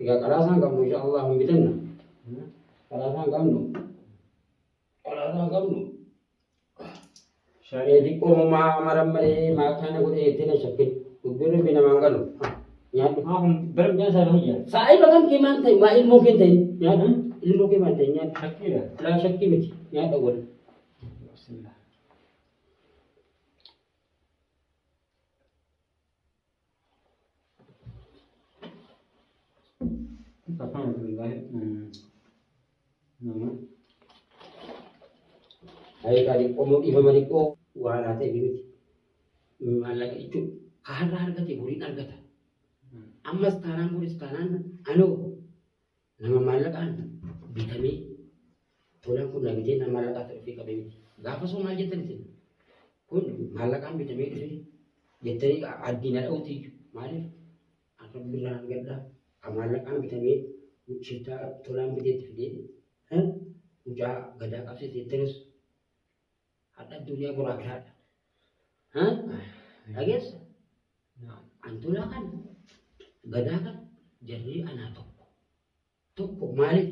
Egaa qaraasaan qabnu insha Allah hin bitanna. Qaraasaan qabnu Qaraataa qabnu. Shanee diqqoo mumaa maran malee maakaana godhee itti na shakke. Dubbii rabbi namaan galu. Nyaadhu. Maa kun bara miidhaan isaa irra jira. Saa'iba kan kee maal ta'e maa ilmoo kee ta'e nyaadhu. Ilmoo kee maal ta'e nyaadhu. Shakkiidha. Laa shakkii miti nyaadha wal. Bismillah. Tapaan Abdullahi nama Ayikaa xiqqoo moo dhiifama xiqqoo waa laatee fi miti. Maallaqa jechuun ka har'a argate boriin argata. Ammas taanaan boris taanaan anoo Nama maallaqaan bitamee tolaan kun na bitee nama maallaqaa ta'e ofii qabee miti. Gaafa soo maal jettan isin? Kun maallaqaan bitamee dhufe jettanii addii na dha'uuti iyyuu. Maaliif? Akka birraa nan gaddaa. Kan maallaqaan bitamee shittaa tolaan biteetti fidee mucaa gadaa qabsiise jettanis Hadha addunyaa boraa fi hadha. Ha? Dhageessa? Antuulaa kan gadaa kan jarri anaa tokko. Tokko maaliif?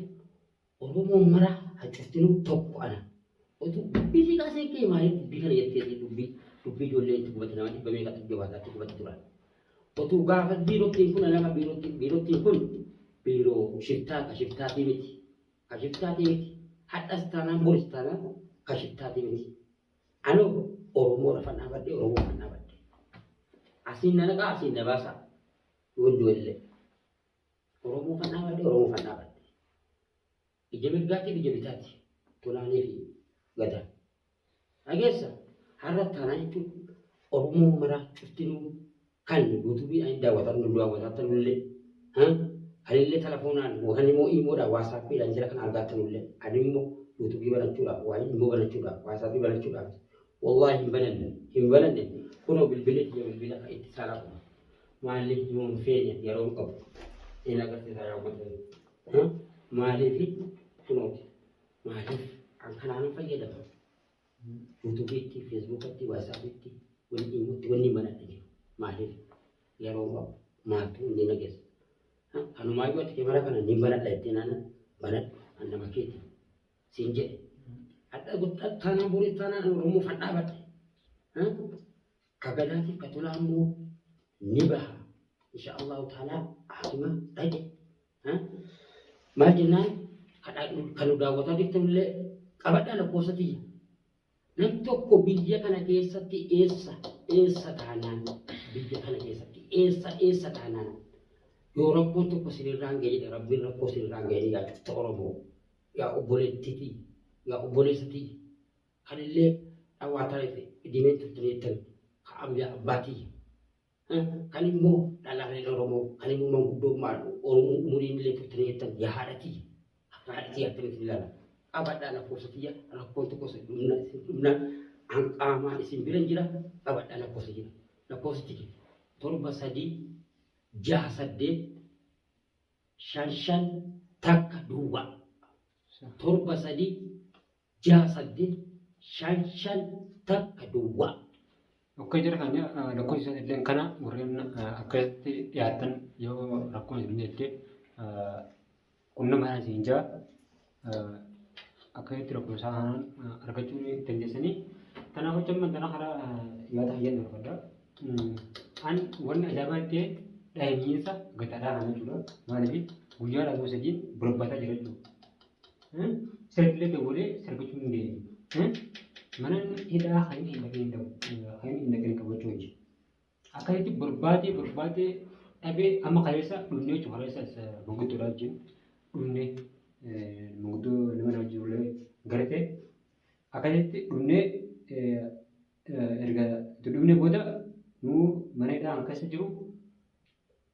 Oromoon mara hacuftinu tokko ana. Otu dubbii si kaasee kee maaliif dubbii kana jettee si dubbii dubbii ijoollee itti gubate nama dhibba meeqa itti gubata itti gubate turan. Otu gaafa biirottiin kun nama biirottiin biirottiin kun biiroo shiftaa ka shiftaatii miti. Kashiftaati miti. Hadhas taanaan boris taanaan kashiftaati miti. Anoo Oromoo lafa dhaabadde Oromoo kan dhaabadde. Asiin na naqaa asiin na baasaa. Yoon du'ellee. Oromoo kan dhaabadde Oromoo kan dhaabadde. Ija mirgaatiif ija bitaati. Tolaanii fi gadaa. Dhageessa har'a taanaa jechuun Oromoo maraa cuftinuu kan yuutuubii ani daawwatan nu daawwataatan illee kanillee telefoonaan yookaan immoo iimoodhaan waasaappiidhaan jira kan argaatan illee ani immoo yuutuubii banachuudhaaf waa immoo banachuudhaaf waasaappii banachuudhaaf wallaahi hin bananne hin bananne kunoo bilbilee kiyya bilbila kan itti saalaa qaba maaliif yoo hin feene yeroo hin qabu hin agarsiisaa yaa uummata maaliif kunooti Maaliif an kanaanan fayyadama? Yuutuubiitti, Feesbuukatti, Waatsaapiitti, wanni imutti wanni banadhe jiru. Maaliif? Yeroo maaltu inni na geessa? Kanumaayyuu ati kemera kana ni banadha jettee naana banadhu an nama keeti siin jedhe. Hadha guddaa taanaan borii taanaan an Oromoo fan dhaabadhe. Ka gadaatiif ka tolaa immoo ni baha. Insha Allahu ta'ala haatuma dhaqe Maal jennaan kan nu daawwataa jirtan illee qabadhaa lakkoofsa tiyya. Nam tokko biyya kana keessatti eessa eessa taanaan biyya kana keessatti eessa eessa taanaan yoo rakkoon tokko sinirraan ga'e jedhe rabbiin rakkoo sinirraan ga'e yaa cufta Oromoo yaa obboleettiitii yaa obboleessatii kan illee dhawaataa dhimee turtanii jettan ka abyaa abbaatii Kan immoo dhalaa kan Oromoo kan immoo manguddoo maadhu Oromoo umuriin illee turtanii jettan yaa haadha tiyya akka haadha tiyya akkamitti ilaala qabadhaa lakkoofsa tiyya rakkoon tokko isin dhumna isin dhumna an qaamaan isin bira jira qabadhaa lakkoofsa jira lakkoofsa tiyya torba sadii jaha saddeet shan shan takka duwwaa torba sadii 6 8 5 5 takka duwwaa. Okkee jara keenya lakkoofsi isaa illee kana warreen akkasitti dhiyaatan yoo rakkoon isin jettee qunnamaanis hin jaa akkasitti lakkoofsa isaa kanaan argachuu ni dandeessanii. Kanaaf hojii amma kana karaa yaada fayyaan darbadha. An wanni ajaa'ibaa ta'e dhahimiinsa gataadhaa kana jechuudha. Maaliif guyyaa lama sadiin barbaadaa jira jechuudha. Sirbilee dawwalee sirbichuu hin deemu. Mana hidhaa kan inni hin dhageen ta'u kan inni hin dhageen qabachuu hin jiru. Akkasitti barbaadee barbaadee dhabee amma kaleessa dhumnee jechuudha kaleessa manguddoodhaa wajjin dhumnee manguddoo nama na wajjin illee garatee akkasitti dhumnee erga itti dhumnee booda nuu mana hidhaa kan keessa jiru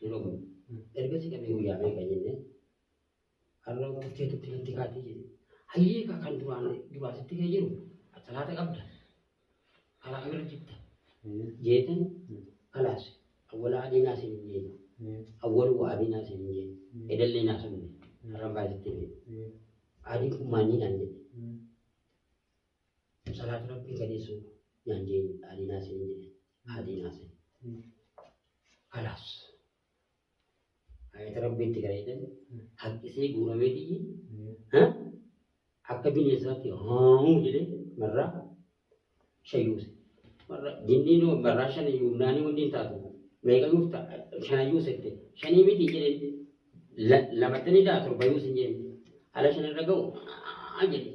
Yeroo kun erga si dhabee guyyaa meeqa jennee har'a turtee turte natti kaatee jedhe. Hayyee ka kan duraan duraa sitti kee jiru salaata qabda karaa kamirra jirta jeetan kalaas awwala adiinaa siin hin jeenu awwalu waa adiinaa siin hin jeenu edallee naa sabne har'an baay'ee sitti hime adiin kun maanii naan jedhe salaata rabbii gadeessuu naan jeenu adiinaa siin hin jedhe adiinaa siin. Kalaas. Ayata rabbiitti gara jedhan haqqisee guuramee tiyyi akka bineensaatti haamuu jedhee marraa shayyuuse. Marra jinniin marraa shan yuumnaanii wanni hin taatu meeqa yuuf ta'a shana yuusette shanii miti jedhee lamattanii daa torba yuusin jedhee ala shan irra ga'u jedhee.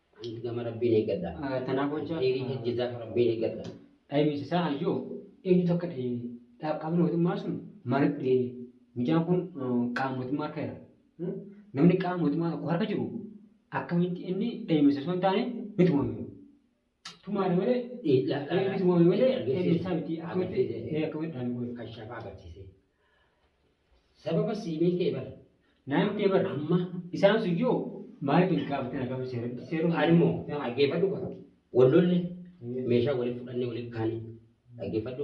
Anti gama rabbiin eeggadha. Tanaaf hojja. Dhiirii hojjetaa rabbiin eeggadha. Dhaybinsi isaa ayyoo eenyutu akka dhayne qaamni mootummaa sun maaliif dhayne mucaan kun qaama mootummaa harka jira. Namni qaama mootummaa tokko harka jiru akkamitti inni dhaybinsa osoo hin taane ni tumame. Tumaadha malee ni tumame malee dhaybinsaa miti akkamitti akkamitti dhaame kun. Kan shafaa agarsiise. Sababa siimii kee bar. Naamtee bar amma isaan sun yoo maaliif hin gaafatin akkam seeratti seeruu haali moo dhaggeeffadhu bar. Wallolle meeshaa waliin fudhannee waliin kaane dhaggeeffadhu.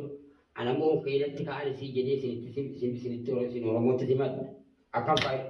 Ana moo keedatti kaa'an isii jedhee isinitti isinitti isin Oromootti simadha. Akkam faayida.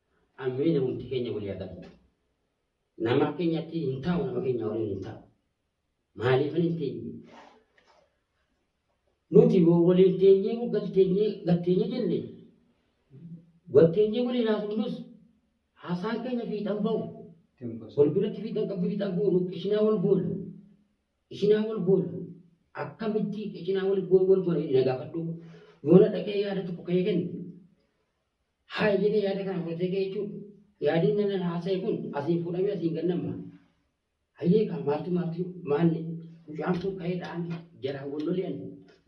Ameen namumti keenya walii haa galchu. Nama akka keenyatti hin taa'u nama keenya waliin hin taa'u. Maaliif hin teenye? Nuti yoo waliin teenyee moggal teenyee gad teenyee jenne wal teenyee waliin haasofnus haasaan keenya fiixan ba'u. Wal biratti fiixan qabdu fiixan goonu qishinaa wal goona. Qishinaa wal goona. Akkamitti qishinaa wal goona wal goona inni na gaafadhu. Yoona dhaqee yaada tokko ka'ee kennu. Haaya jedhee yaada kana fudhatee ka'e jechuudha. Yaadiin nama haasa'e kun asiin fuudhamee asiin gannamma. Hayyee kaa maaltu maaltu maalli mucaan kun ka'ee dha'ame jaraa gollolee ani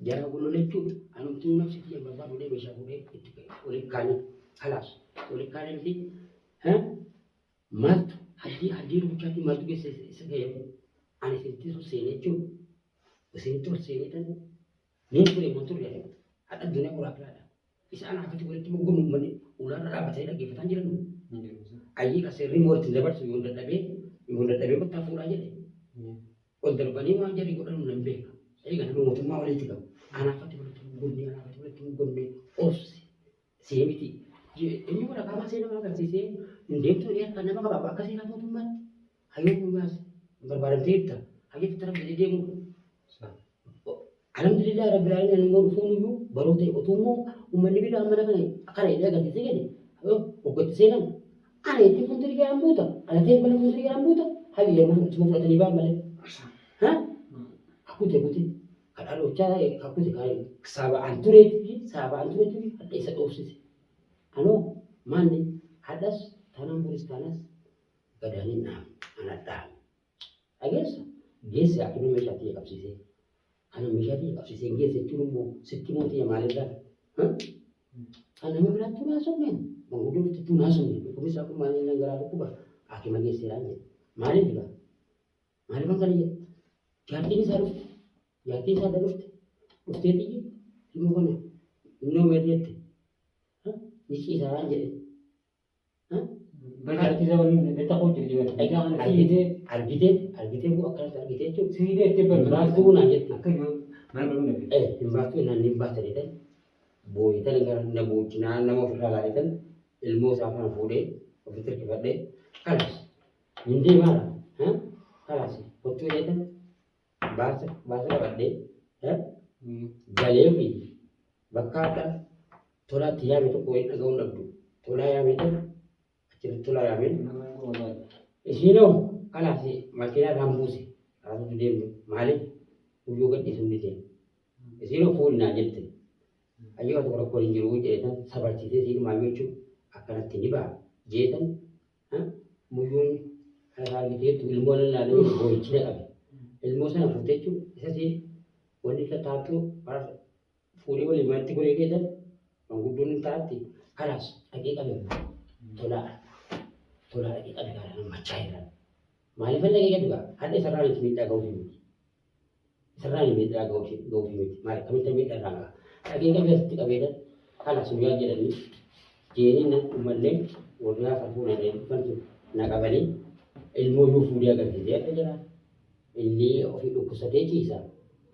jaraa gollolee jechuudha. Anumtuu nafsi kiyya babbaa fuudhee meeshaa fuudhee itti ka'e walitti kaanee kalaas walitti kaanee miti maaltu hajjii hajjii rukuchaatii maaltu keessa isa ga'e ani isinitti ol seenee jechuudha. Isinitti ol seenee tan ni ture moo turre hadha addunyaa qoraa biraadha. Isa anaa akkatti walitti immoo gurmuun manni ulaarra dhaabbatanii dhaggeeffataan jiran nu. Ayyii kan seerri immoo ittiin dabarsu yoon dadhabee yoon dadhabee kottaa fuudhaa jedhe. Ol darbanii waan jarri godhan nan beeka. Egaa nama mootummaa walitti qabu. Anaa akkatti walitti hin gurmee anaa akkatti walitti hin gurmee obsi see miti. Inni waraqaa baasee nama agarsiisee hin deemtuu dhiyaata nama qabaaba akka seeraa mootummaatti. Hayyuu dhugaas hin barbaadamtee jirta. Hayyuu tattara fidee deemuu dha. Alhamdulillah rabbil alamin ani immoo dhufuun iyyuu baruu ta'e otuu immoo uummanni biraa mana kana kana jedhee agarsiisee jedhe hoggatti seenan ana ittiin fuuldurii garaan buuta alateen bala fuuldurii garaan buuta hayyuu jedhaman ittuma fudhatanii ba'an malee. Ha? Akkute kute kadhaa dhoochaa akkute kaa'e saaba'aan tureetii fi saaba'aan tureetii fi hadha isa dhoofsise. Anoo maanni hadhas taanaan boris taanas Gadanin dhaame. Ana dhaame. Dhageessa? Geesse akkuma meeshaa tiyya qabsiisee. Kana meeshaa tiyya qabsiisee geesse jechuun immoo sitti immoo tiyya maalirraa? Kan nama biraatti tun haasofne. Manguddoo bitti tun haasofne. Dhukkubni isaa kun maal jennaan garaa dhukkuba. Haakima geesseeraan jedhe. Maaliif egaa? Maaliif kan kana jedhe? Jaartiin isaa dhufte. Jaartiin isaa adda dhufte. Dhuftee tiyyi ilmoo kana innoo meerreette. Ni ciisaaraan jedhe. Barsiisa waliin beektaa koo jirti bara. Egaa kana si hidee argitee argitee immoo akkanatti argitee jechuudha. Si hidee itti barbaadu. Baastuu naan jette. Akka yoo mana baruu dhabe. Eh hin baastuu naan hin baasta jedhan booyitan gara na boochi naan nama ofirraa laaletan ilmoo isaa kana fuudhee ofitti hirkifadhee kalas hin deemaara. Kalas kottuu jedhan Baasa baasa qabadhee eh, mm, galee fi bakka adda tolaa itti yaame tokko wayii dhaga'uu dhabdu. Tolaa yaamee ta'e achirratti tolaa yaamee Nama hin goobaadha. isiinoo kanaaf makiinaa irraan buuse kaasuutu deemtu maaliif guyyoo gadhiisuun ni deema. Isiinoo fuudhi naa jette. Ayyoo tokko rakkoon hin jiru jeetan sabarsiisee siidhumaa jechuun akkanatti ni ba'a jeetan Muyyuun harka argiteettu ilmoo nan laalee boo'ichi na qabe. Ilmoo sana fuutee jechuun isas wanni taattu fuudhee waliin manatti golee keetan manguddoon hin taatti kalaas dhaqee qabe tolaa tolaa dhaqee qabe gaara nan machaa irraa. Maaliif dhaqee qabe gaa hadha isarraa miti miidhaa ga'uuf miti. Sirraan miidhaa ga'uuf ga'uuf miti. Maal akkamitti miidhaa irraan ga'a? Dhageen qabeessatti qabeedha. Kanas nu yaa jedhanii jeenii nan dhumallee warraa kan fuudhan jedhanii dhufan sun na qabanii ilmoo yoo fuudhee agarsiisee akka jira. Inni ofii dhukkubsatee ciisa.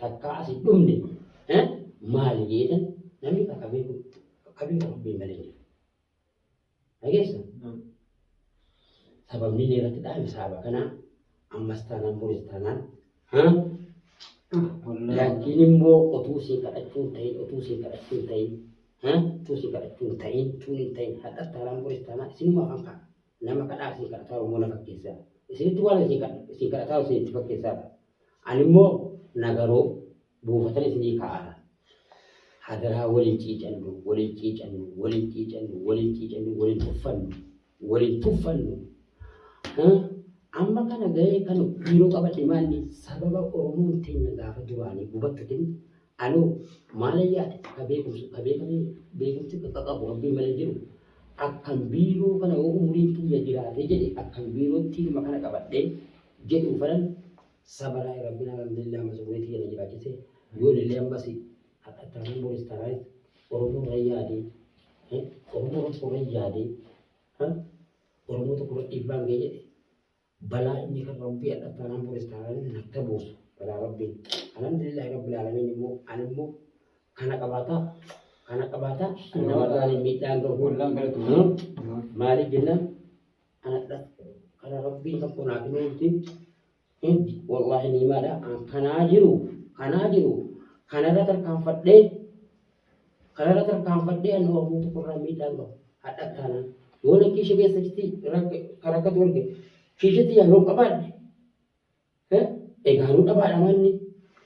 Takkaa asi dhumne. Eh? Maali jeetan namni bakka beeku qabii kan hubbii malee jira. Dhageessa? Sababni inni irratti dhaame sababa kanaa ammas taanaan boris taanaan laakiin immoo otuu siin kadhachuun ta'in otuu siin kadhachuun ta'in otuu siin kadhachuun ta'in tuun hin ta'in hadhas taanaan boris taanaan isinuma afaan ka'a nama kadhaa siin kadhataa immoo na fakkeessaa isinitti waan siin kadhataa isinitti fakkeessaa ani immoo nagaroo buufatan isinii kaa'aara. Hadaraa waliin ciicannu, waliin ciicannu, waliin ciicannu, waliin ciicannu, waliin tuffannu, waliin tuffannu. Amma kana gahee kan biiroo qabadhe maalli sababa Oromoon teenya gaafa duraanii gubattutin anoo maala yaade ka beekumsa ka beekamee beekumsi qaqqabu rabbiin malee jiru akkan biiroo kana yoo umuriin kiyya jiraatee jedhe akkan biirootti ilma kana qabadhee jedhu fanan Sabarai rabbin alhamdulillah masruri tiyya na jiraachise yoonillee ammasi hadha taanaan boris taanaayis oromoo irra yaadee eh, oromoo tokko irra yaadee eh, oromoo tokko irra dhiibbaan ga'e jedhe balaa inni kan rabbii hadha taanaan boris taanaayis natti buusu balaa rabbiin alhamdulillah rabbil alamin immoo ani immoo kana qabaataa kana qabaataa kan namarraan miidhaan ga'u Wallaan galatu. maaliif jennaan anadha kana rabbiin tokko naa himee itti heddi wallaahi ni maadha an kanaa jiru kanaa jiru kanarra tarkaanfadhee kanarra tarkaanfadhee an oromoo tokko irraa miidhaan qabu hadha taana yoo na kiisha keessatti rakkatu arge kiishatti yaa yoo qabaadhe He, egaa nu dhabaadha maanni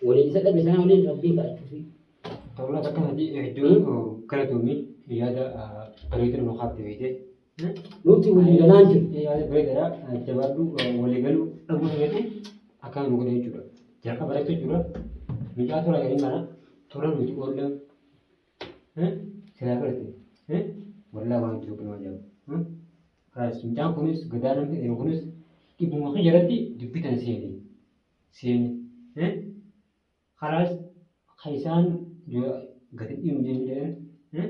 waliin isa dhabe sanaa waliin rabbiin kadhachuufi. Tolaa bakka isaati hedduu galatoomi yaada bareedu nu kaafte fiite. Nuti walii galaa hin jiru. Yaada bareedadha jabaadhu walii galuu dhabuu keenyatu akkana nu godhe jechuudha. Jalqaba bareetu jira mucaa tola jedhin kana tola nuti oolla silaa barate wallaa waan jiru nama ajaa'ibu. Kiraayis mucaan kunis gadaa namni jedhamu kunis dhibbuma kiyya irratti dubbitan seene seene eh? karaas kan isaan yoo gadi dhiimu jee jedhan eh?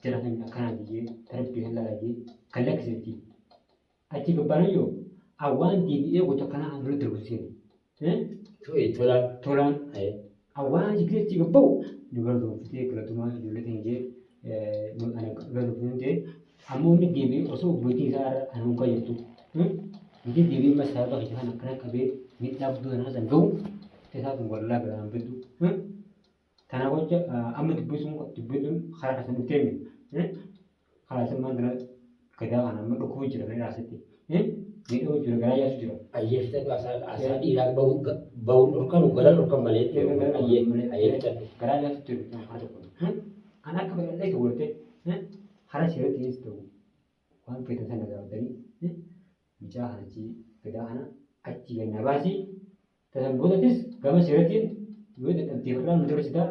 jara kan akkanaa biyyee tarbii kan lalayyee kan lakkisatti achi gabbaanayyoo awwaan deebi'ee gocha kanaa dura darbu seene Tolaan. Tolaan. Awwaan jibbee itti gabba'u nu garboomfitee galatumaa ijoollee keenya jee ana garboomfitee jee ammoo inni deebi'ee osoo bultii isaa irra kan hunka jirtu. Inni deebi'ee amma sababa keessa kan akkana qabee miidhaa guddoo kanaa san ga'u keessaa kun wallaa biraan bitu. Kana gocha amma dubbisuun dubbisuun karaa kana dhuftee miti. Karaa isin maal kana gadaa kana amma dhukkubuu jira gadaa asitti. Miidhamuu jira gadaa yaasuu jira. Ayyee fixadhu asaa dhiiraa ba'uun dhorkanu gara dhorkan malee ayyee ayyee fixadhu. Gadaa yaasuu jira kan haati kun. Kan akka bal'ee ta'u waltee karaa seeratti dhiyeessu ta'u waan feetan sana gaafatanii mucaa kana achii gadaa kana achii gannaa baasii. Dargaggootattis gama seeratiin yoo dadhabdeef irraa nu dabarsita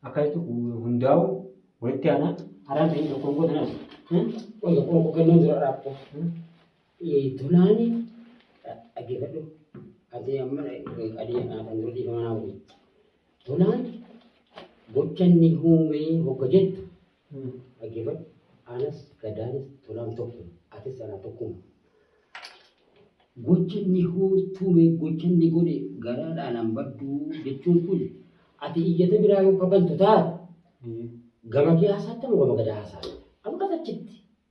akka jettu hundaa'u walitti aanaa araan ta'in tokkoon gootanas. Qoy tokkoon koo kennuun dura raabta. Tolaani dhaggeeffadhu. Ati amma adii kan dura dhiifama naa godhi. Tolaan gocha inni uumee hogga jettu Uumm dhagefadhu anas gadaanis tolaan tokkuma atis anaa tokkuma. Gocha inni hooltuu mee gocha inni godhe garaadhaa nan badduu jechuun kun ati iyyata biraa yoo kafantu taate gama kee haasaatta moo gama gadaa haasaatta? Ammas achitti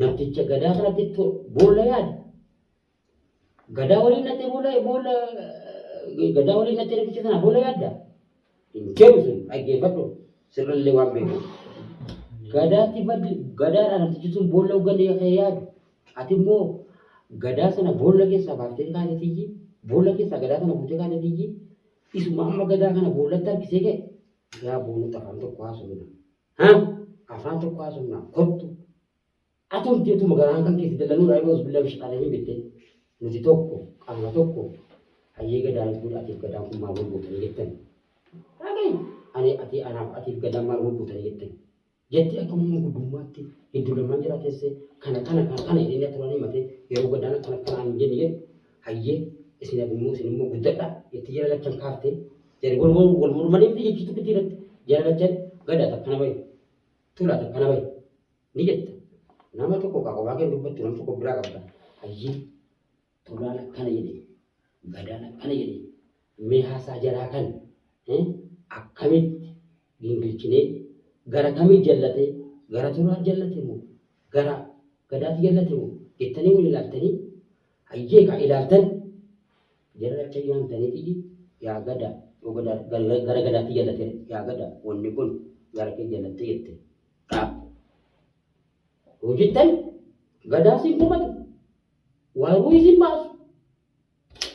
Namticha gadaa kanatti to- boolla yaade. Gadaa waliin natti boolla boolla gadaa waliin natti namticha sana boolla yaadda. Hin deemu sun dhaggeeffadhu sirrillee waan beeku. Gadaatti baddi gadaadha namtichi sun boolla hogganne akka yaadu. Ati immoo gadaa sana boolla keessaa baaftee kaatee tiyyi boolla keessaa gadaa sana fuutee kaatee tiyyi isuma amma gadaa kana boollatti harkisee ka'e yaa boonota afaan tokko haasofna. Ha? Afaan tokko haasofnaa kottu. Ati hojii otuma garaan kan keessa dalanuu raayii boos bilaa bishaan dhaanii beektee. Nuti tokko qaama tokko hayyee gadaan fuudha atiif gadaan kun maal wal gootanii jettan. Raagay ani ati anaaf atiif gadaan maal wal gootanii jettan. Jettee akka mummuu guddummaatti hedduu lamaan jira teessee kana kana kana kana jedhanii turanii matee yeroo gadaan akkana akkana hin jenne jedhu Hayyee isin abimmoo isin immoo guddadha itti jala lachan kaafte jari wal wal wal mormanii fi jechi tokkitti irratti jala lachan gadaa takka nama hin tulaa takka nama hin ni jetta nama tokko kaa kophaa kee dubbattu nama tokko biraa qabda hayyee tulaan akkana jedhe gadaan akkana jedhe mee haasaa jaraa kan eh, akkamitti Gingilchinee gara kami jallate gara toraa jallate moo gara gadaati jallate moo jettanii wal ilaaltanii hayyee kaa ilaaltan jara acha yaamtanii xiyyi yaa gada yoo gada gara gara gadaati jallate yaa gada wanni kun gara kee jallatte jette dhaab yoo jettan gadaa sin komatu waaruu isin baasu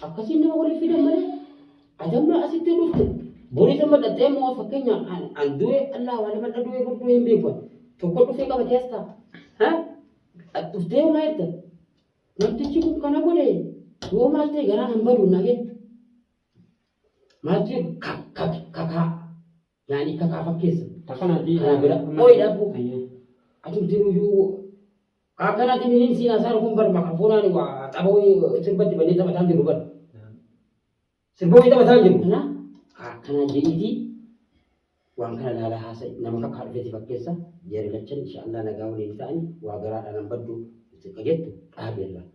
akkasiin nama waliif fidan malee adamma asitti dhufte boris amma dhaxxee immoo fakkeenya an an du'e allaa waan nama dhadu'e gurguu hin beeku tokko dhufee qabatee as ta'a ha At dhuftee homaa jetta namtichi kun kana godhe yoo maal ta'e garaan hin badu nage maal jedhu kak kak kakaa Yaani akka kaa fakkeessa. Takkanaatii. Karaa bira. Ooyi dhaabbu. Ayyee. Atumti nuyyuu akkanaatiin hin siinaa isaa dhufuun bar maqaa fuunaan waa tapha wayii sirbatti bannee taphataan jiru bar. Sirba wayii taphataan jiru. Kana akkanaa jedhiitii waan kana laalaa haasa'e nama kakkaa dhufeeti fakkeessa jeerilachan inshaallah nagaa waliin ta'ani waa garaadhaan hin baddu itti jettu dhaabeerra.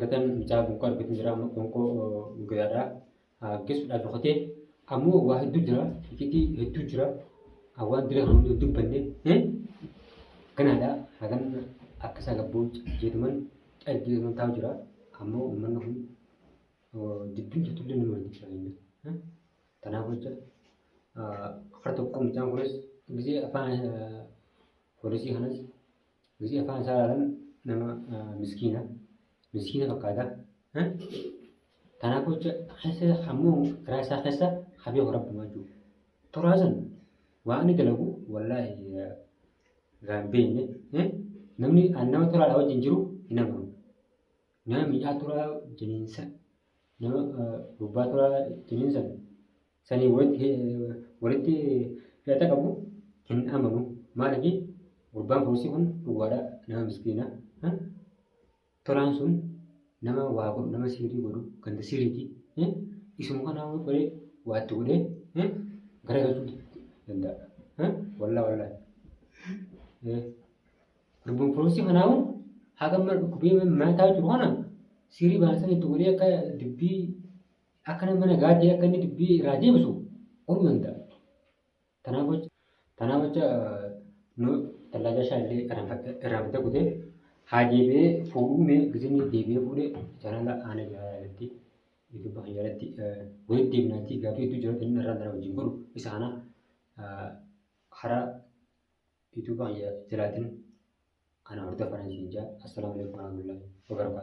Gatan mucaa gonko argatu jira amma gonko guyyaadha geessuudhaaf dhokatee ammoo waa hedduu jira ifitii hedduu jira waan dura kan hundi dubbanne ganaadha hagan akka isaa gabboo jeetuman dhargeetuman taa'u jira ammoo uummanni kun dubbiin jirtullee nama hin jiraanne kanaaf jecha kar tokko mucaan kunis gisee afaan poolisii kanas Nuti afaan isaa ilaalan nama miskiina. Miskiina fakkaata. Kanaaf jecha keessa ammoo garaa isaa keessa habee horabbamaa jiru. Toraa san waan inni dalagu wallaahi gaan beekne namni nama toraadha wajjin jiru hin amanu. Nama miidhaa toraa jiniinsa nama gubbaa toraa jiniinsan sanii walitti walitti hidhata qabu hin amanu maaliif gurbaan poolisii kun dhugaadha nama miskiina ha? tolaan sun nama waa godhu nama siirii godhu ganda siiriiti ha? isuma kana hawwa godhee waatti godhee ha? gara galchuu danda'a ha? wallaa wallaa Eh, gurbaan poolisii kanaawu haga mana dhukkubee mana taa'u jiru kana siirii baasanii itti godhee akka dubbii Akka nama nagaatti akka inni dubbii irraa deebisu orma hin ta'a. Tanaaf jecha tanaaf jecha nu tallaaja isaa illee irraanfatee kutee haa deebi'ee fuudhuu mee gizinni deebi'ee fuudhee jaalala aana jaalala irratti yuutuuba kan jaalatti walitti deebinaatii gaafii hedduu jaalatti inni irraan dara wajjin godhu isa kana karaa yuutuuba kan jalaatiin ana hordofaa nan siin jaa assalaamu alaikum warahmatullahi wabarakatuh.